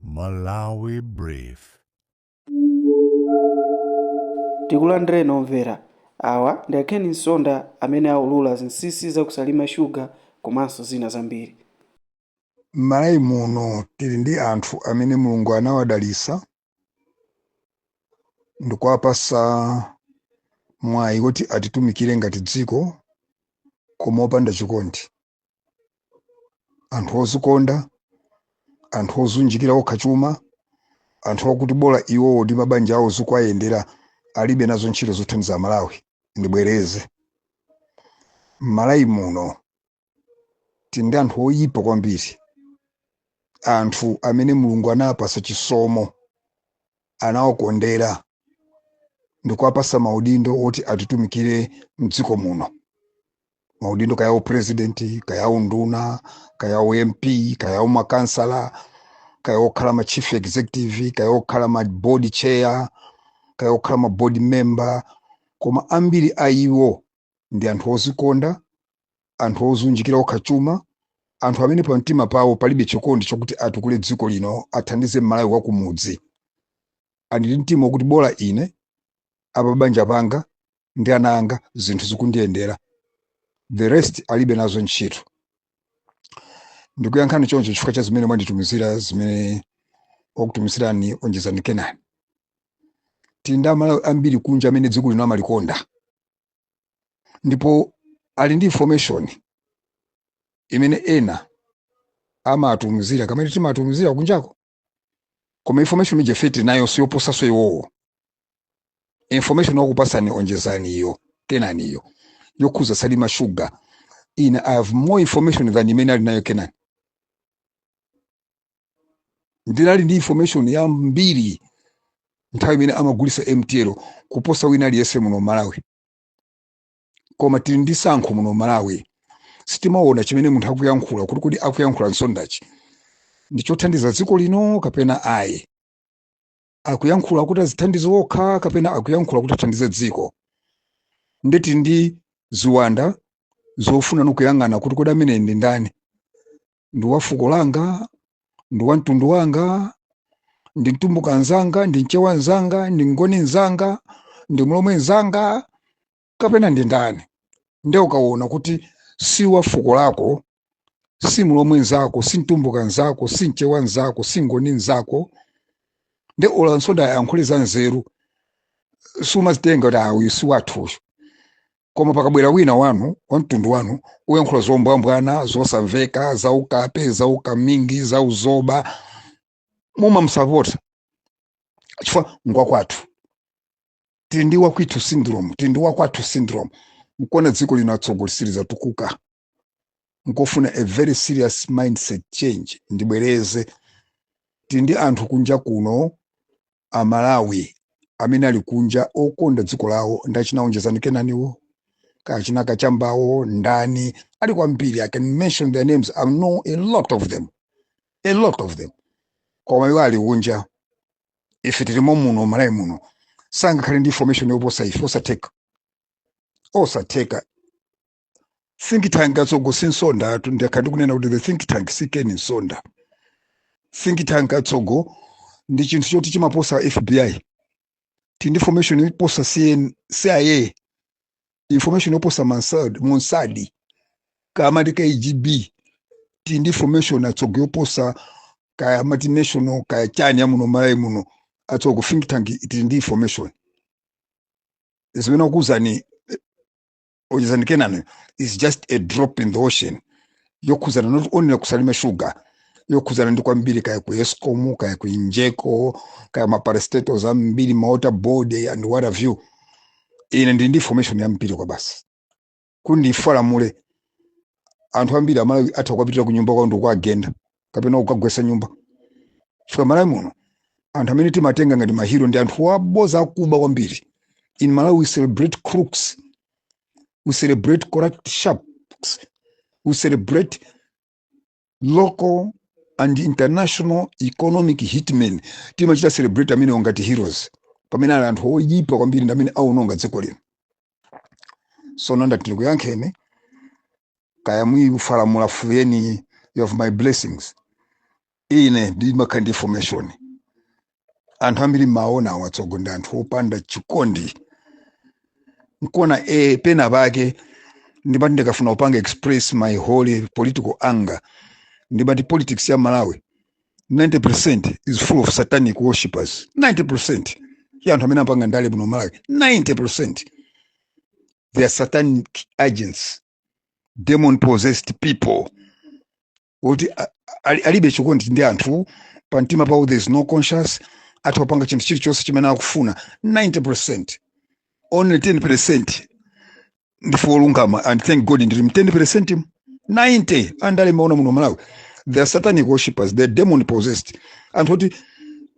Malawi Brief. tikulandireninso omvera awa ndi a ken nsonda amene aulula zinsinsi za kusalima shuga komanso zina zambiri M'Malawi muno tili ndi anthu amene Mulungu anawadalitsa ndikuwapatsa mwayi woti atitumikire ngati dziko koma opanda chikondi. anthu ozikonda anthu odziunjikira okha chuma anthu akuti bola iwowo ndi mabanja awo zikuwayendera alibe nazo ntchito zothandiza malawi ndibwereze mmalawi muno tili ndi anthu oyipa kwambiri anthu amene mulungu anawapasa chisomo anawakondera ndikuwapasa maudindo oti atitumikire mdziko muno maudindo kaya upresidenti kaya unduna kaya ump kaya umakansala kaya okhala ma chief executive kaya okhala ma board chair kaya okhala ma board member koma ambiri a iwo ndi anthu ozikonda anthu odziunjikira okha chuma anthu amene pa mtima pawo palibe chikondi chokuti atukule dziko lino athandize mmalawi wakumudzi ali ndi mtima wokuti bola ine apa banja panga ndi ana anga zinthu zikundiyendera the rest alibe nazo ntchito ndikuyankha choncho chifukwa cha zimene mwanditumizira zimene wakutumizirani onjezani kenani tili ndi amalawi ambiri kunja amene dziko lino amalikonda ndipo ali ndi information imene enafe timatumizira kamene timatumizira kunjako koma information ifeyo tili nayo siyoposaso iwowo information wakupasani onjezaniyo kenaniyo yokhuza salima sugar ine i have more information than imene ali nayo kenani ndinali ndi information yambiri nthawi imene amagulisa mtl kuposa wina aliyense muno malawi koma tili ndi sankho muno malawi sitimaona chimene munthu akuyankhula kuti kodi akuyankhula nsondachi ndi chothandiza dziko lino kapena ayi akuyankhula kuti azithandize okha kapena akuyankhula kuti athandize dziko nde tili ndi ziwanda zofuna nokuyang'ana kuti kodi ameneyu ndi ndani ndi wa fuko langa ndi wa mtundu wanga ndi mtumbuka nzanga ndi mchewa nzanga ndi mngoni nzanga ndi mlomwe nzanga kapena ndi ndani nde ukaona kuti si wa fuko lako si mlomwe nzako si mtumbuka nzako si mchewa nzako si mngoni nzako nde olo nsonda ayankhule za nzeru sumazitenga kuti ayi si wathu uyo koma pakabwera wina wanu wa mtundu wanu kuyankhula zombwambwana zosamveka zaukape zaukamingi zauzoba mumamsapota chifukwa ngwakwathu tili ndi wakwithu syndrome tili ndi wakwathu syndrome nkona dziko lino atsogo lisikutukuka nkofuna a very serious mindset change ndibwereze tili ndi anthu kunja kuno amalawi amene ali kunja okonda dziko lawo ndi achina Onjezani Kenaniwo achina Kachambawo ndani ali kwambiri i can mention their names i know a lot of them a lot of them koma iwo ali kunja ife tilimo muno malawi muno sangakhale ndi information yoposa ife osatheka osatheka think tank atsogo si Msonda ndakhala ndikunena kuti the think tank si Ken Msonda think tank atsogo ndi chinthu choti chimaposa fbi tili ndi information yoposa cia information yoposa Mossad kaya mukuti kgb tili ndi information atsogo yoposa kaya mati national kaya chani yamuno malawi muno atsogo think tank tili ndi information zimene wakuuzani onjezani kenani is just a drop in the ocean yokhuzana not only ku Salima Sugar yokhuzana ndi kwambiri kaya ku escom kaya ku egenco kaya maparastatals ambiri mawater board and what have you ine ndili ndi information yambiri kwabasi kuti ndiifalamule anthu ambiri amalawi atha kuwapitira ku nyumba kwawo ndikuwagenda kapena kukagwetsa nyumba chifukwa malawi muno anthu amene timatenga ngati mahiro ndi anthu aboza akuba kwambiri in malawi we celebrate crooks we celebrate corrupt sharks we celebrate local and international economic hitmen timachita celebrate amenewo ngati heroes pamene ali anthu oyipa kwambiri ndi amene aononga dziko lino sono ndati ndikuyankheni kaya muyifalamula fuyeni you have my blessings ine ndimakhala ndi information anthu ambiri mumawaonawa atsogo ndi anthu opanda chikondi nkona e pena pake ndimati ndikafuna kupanga express my holy political anger ndimati politics ya malawi 90% is full of satanic worshippers 90% ya anthu amene apanga ndale muno malawi 90% they are satanic agents demon possessed people kuti alibe chikondi ndi anthu pa mtima pawo there is no conscience atha kupanga chinthu chilichonse chimene akufuna 90% only 10% ndife olungama and thank god ndiri mu 10 percent mu 90 andale mmaona muno malawi they are satanic worshippers they are demon possessed anthu oti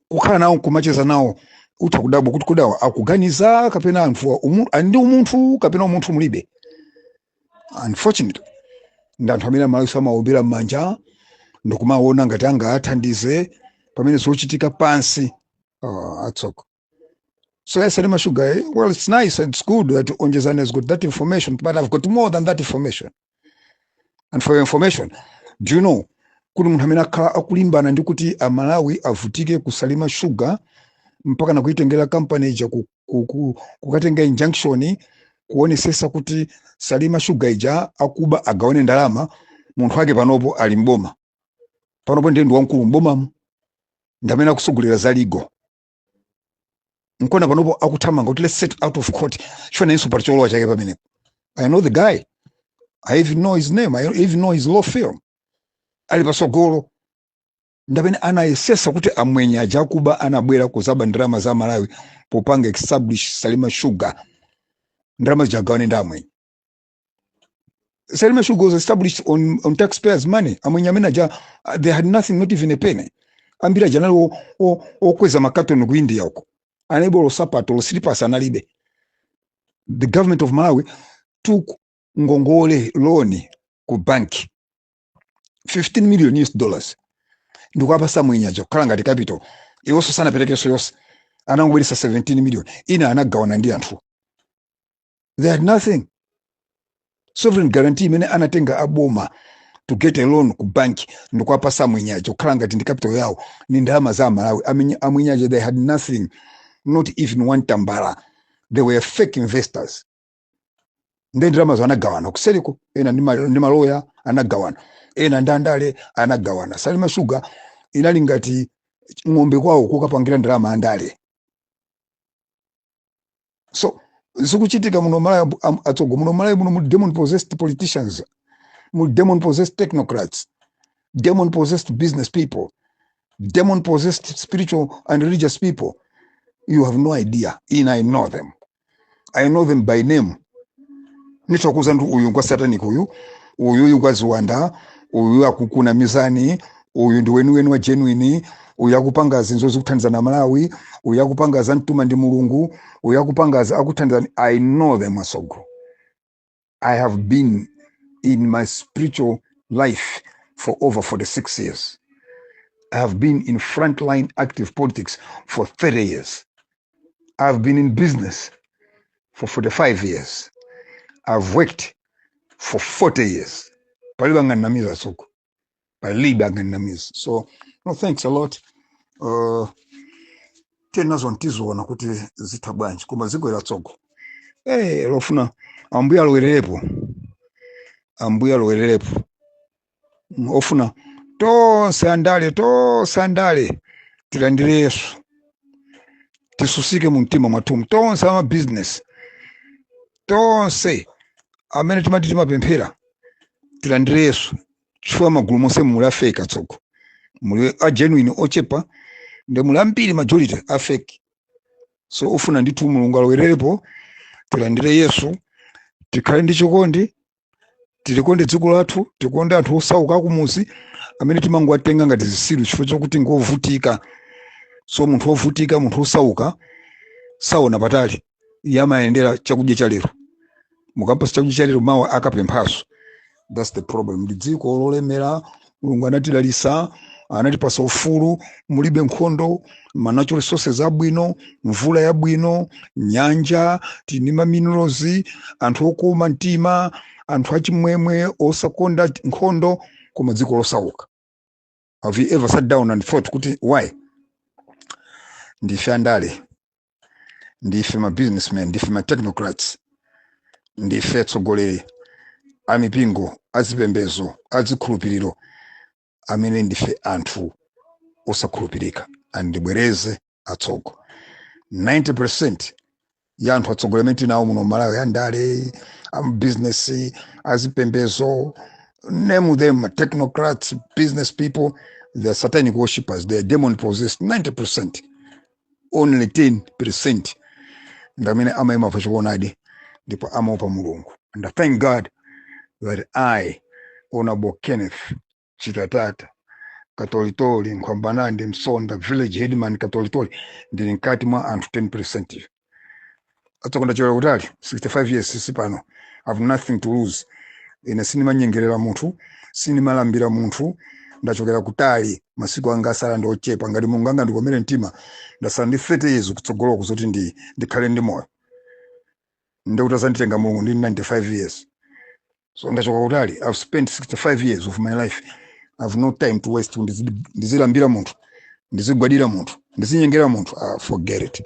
kukhala nawo kumacheza nawo utha kudabwa kuti kodi awa akuganiza kapena anthuwa umu- ali ndi umunthu kapena umunthu mulibe unfortunately ndi anthu amene amalawi amaombera m'manja ndikumaona ngati angathandize pamene zochitika pansi uh, atsoka So ya Salima Sugar, eh, well, it's nice and it's good that Onjezani has got that information, but I've got more than that information. And for your information, do you know, kuli munthu amene akhala akulimbana ndi kuti amalawi avutike ku Salima Sugar mpaka na kuitengera kampani ija ku- ku- ku- kukatenga injunction kuonesesa kuti Salima Sugar ija akuba agawane ndalama munthu wake panopo ali mboma panopo ndiye ndi wamkulu mbomamo ndamene akusogolera za legal nkona panopo akuthamanga kuti let's settle out of court chonayenso pali cholowa chake pamenepo i know the guy i even know his name i even know his law firm ali pasogolo ndamene anayesesa kuti amwenye aja akuba anabwera kuzaba ndalama za malawi popanga establish salima sugar ndalama zija agawane ndi amwenye Salima Sugar was established on, on taxpayers' money. Amwenye amene aja, uh, they had nothing, not even a penny. Ambiri aja anali o- o- okweza makatoni ku India uko. Analibe olo sapato, olo slippers analibe. The government of Malawi took ngongole loan ku bank 15 million US dollars. Ndikuapasa mwenye aja kukhala ngati capital. Iwonso sanaperekenso yonse. Anangobweresa 17 million. Ina anagawana ndi anthu. they had nothing sovereign guarantee imene anatenga aboma to get a loan ku bank ndikuwapasa amwenyaja kukhala ngati ndi capital yawo ni ndalama za amalawi Amenya- amwenyaja they had nothing not even one tambala they were fake investors nde ndalamazo anagawana kuseliko ena ndi ma- ndi maloya anagawana ena ndi andale anagawana salima sugar inali ngati ng'ombe kwawo kukapangira ndalama andale so zikuchitika muno malawi ambu- am- atsogo muno malawi muno muli demon possessed politicians muli demon possessed technocrats demon possessed business people demon possessed spiritual and religious people you have no idea in i know them i know them by name nithokoza ndi uyu ngwa satanic uyu uyu uyu ngwa ziwanda uyu akukuna mizani uyu ndi weniweni wa genuine uyu akupanga zinthu zokuthandiza amalawi uyu akupanga zi- amtuma ndi mulungu uyu akupanga za- akuthandizana i know them asogoleri i have been in my spiritual life for over 46 years i have been in frontline active politics for 30 years i have been in business for 45 years i've worked for 40 years palibe anganamize asogoleri palibe angandinamize so no thanks a lot uh, tiye nazoni tiziona kuti zitha bwanji koma ziko ili atsogo hey, eh, lofuna ambuya alowererepo ambuya alowererepo ofuna tonse andale tonse andale tilandire yesu tisusike mu mtima mwathumu tonse amabizinesi tonse amene timati timapemphera tilandire yesu chifukwa magulu monse muli afeki atsogo muli a genuine ochepa nde muli ambiri majority afeki so ofuna ndithu mulungu alowererepo tilandire yesu tikhale ndi chikondi tilikonde dziko lathu tikonde anthu osauka akumuzi amene timangowatenga ngati zisilu chifukwa chokuti ngovutika so munthu wovutika munthu wosauka saona patali iye amayendera chakudya cha lero mukampasa chakudya cha lero mawa akapemphaso thats the problem ndi dziko lolemera mulungu anatidalitsa anatipasa ufulu mulibe nkhondo ma natural resources abwino mvula yabwino nyanja tili ndi ma minerals anthu okoma mtima anthu achimwemwe osakonda nkhondo koma dziko losauka have you ever sat down and thought kuti why ndife andale ndife ma businessmen ndife ma technocrats ndife atsogoleri a mipingo azipembezo azikhulupiriro amene ndife anthu osakhulupirika and ndibwereze atsogo 90% ya anthu atsogoleri amene tinawo muno malawi andale amabizinesi azipembezo name them technocrats business people they are satanic worshippers they are demon possessed 90% only 10% ndamene amaima pa choonadi ndipo amaopa mulungu and I thank god that i honorable kenneth chitatata katolitoli nkhwambanandi msonda village headman katolitoli ndili mkati mwa anthu 10% atsogo ndachokera kutali 65 years si pano i have nothing to lose ine sindimanyengerera munthu sindimalambira munthu ndachokera kutali masiku anga asala ndi ochepa ngati mulungu angandikomere mtima ndasala ndi 30 years kutsogoloku zoti ndi ndikhale ndi moyo nde kuti azanditenga mulungu ndi 95 years so ndachoka kutali i've spent 65 years of my life i've no time to waste kuti ndizi- ndizilambira munthu ndizigwadira munthu ndizinyengera munthu ah, forget it